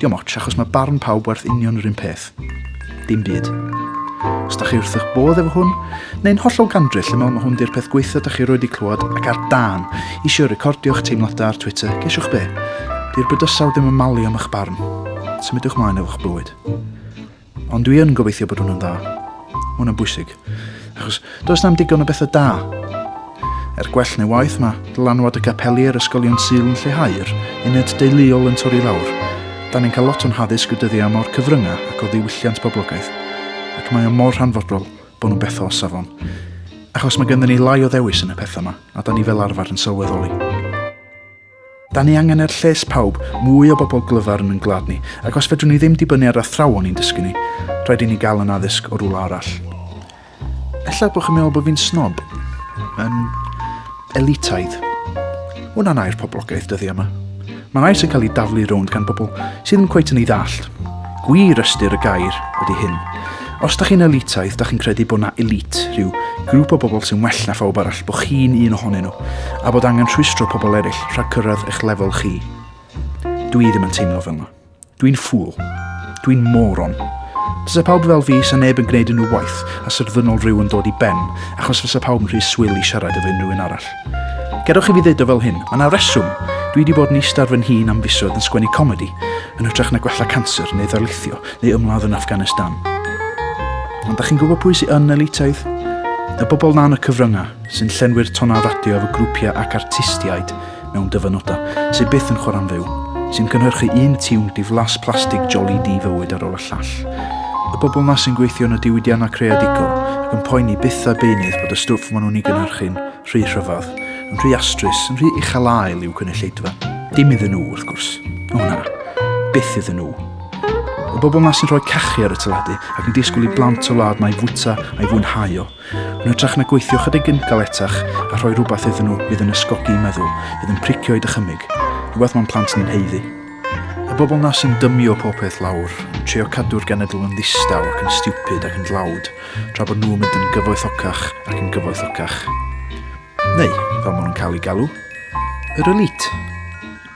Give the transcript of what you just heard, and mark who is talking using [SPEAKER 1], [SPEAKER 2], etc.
[SPEAKER 1] Diom ots, achos mae barn pawb werth union yr un peth. Dim byd. Os da chi wrth eich bodd efo hwn, neu'n hollol gandryll lle mewn mae hwn di'r peth gweitha da chi roed i clywed ac ar dan, eisiau recordio'ch teimladau ar Twitter, gesiwch be? Di'r bydysawd ddim yn malu am eich barn. Symudwch mlaen efo'ch bywyd. Ond dwi yn gobeithio bod hwnna'n dda. Mae hwnna'n bwysig. Achos does na'm digon o bethau da. Er gwell neu waith mae dylanwad y gapeli ar ysgolion Sul yn lleihau'r uned deuluol yn torri lawr. Da ni'n cael lot o'n haddysg y dyddiau yma o'r cyfryngau ac o ddiwylliant poblogaeth. Ac mae o mor hanfodol bod nhw'n bethau o safon. Achos mae genddyn ni lai o ddewis yn y pethau yma, a da ni fel arfer yn sylweddoli. Da ni angen er lles pawb, mwy o bobl glyfar yn yn gwlad ni, ac os fedrwn ni ddim dibynnu ar athrawon i'n dysgu ni, rhaid i ni gael yn addysg o rwla arall. Ella bod chi'n meddwl bod fi'n snob, yn elitaidd. Hwna'n air poblogaeth dyddi yma. Mae'n air sy'n cael ei daflu rownd gan bobl sydd ddim cweit yn ei ddallt. Gwir ystyr y gair ydy hyn. Os da chi'n elitaidd, da chi'n credu bod na elite, rhyw grŵp o bobl sy'n well na phawb arall, bod chi'n un ohonyn nhw, a bod angen rhwystro pobl eraill rhag cyrraedd eich lefel chi. Dwi ddim yn teimlo fel yna. Dwi'n ffwl. Dwi'n moron. Dysa pawb fel fi, sa neb yn gwneud unrhyw waith, a sy'r ddynol rhyw yn dod i ben, achos fysa pawb yn rhy swyl i siarad efo unrhyw un arall. Gedwch i fi ddweud o fel hyn, mae yna reswm. Dwi wedi bod yn eistedd ar fy nhîn am fisoedd yn sgwennu comedi, yn hytrach na gwella canser neu ddarlithio, neu ymladd yn Afghanistan. Ond da chi'n gwybod pwy sy'n yn elitaidd? Y bobl na'n y cyfryngau, sy'n llenwi'r tonau radio efo grwpiau ac artistiaid mewn dyfynodau, sy'n byth yn chwarae'n fyw, sy'n cynhyrchu un tiwn diflas plastig joli di fywyd ar ôl y llall. Y bobl na sy'n gweithio yn y diwydiannau creadigol ac yn poeni byth a beunydd bod y stwff maen nhw'n ei gynhyrchu'n rhy rhyfedd, yn rhy astrus, yn rhy uchel ael i'w cynulleidfa. Dim iddyn nhw, wrth gwrs. O na, byth iddyn nhw. Y bobl yma sy'n rhoi cachu ar y teledu ac yn disgwyl i blant y wlad mae fwyta a'i fwynhau o. Yn hytrach na gweithio chydig yn galetach a rhoi rhywbeth iddyn nhw fydd yn ysgogi i meddwl, fydd yn pricio i dychymyg. Rhywbeth mae'n plant ni'n heiddi. Y bobl na sy'n dymio popeth lawr, yn trio cadw'r genedl yn ddistaw ac yn stiwpid ac yn dlawd, tra bod nhw'n mynd yn gyfoethocach ac yn gyfoethocach. Neu, fel maen nhw'n cael ei galw, yr elite.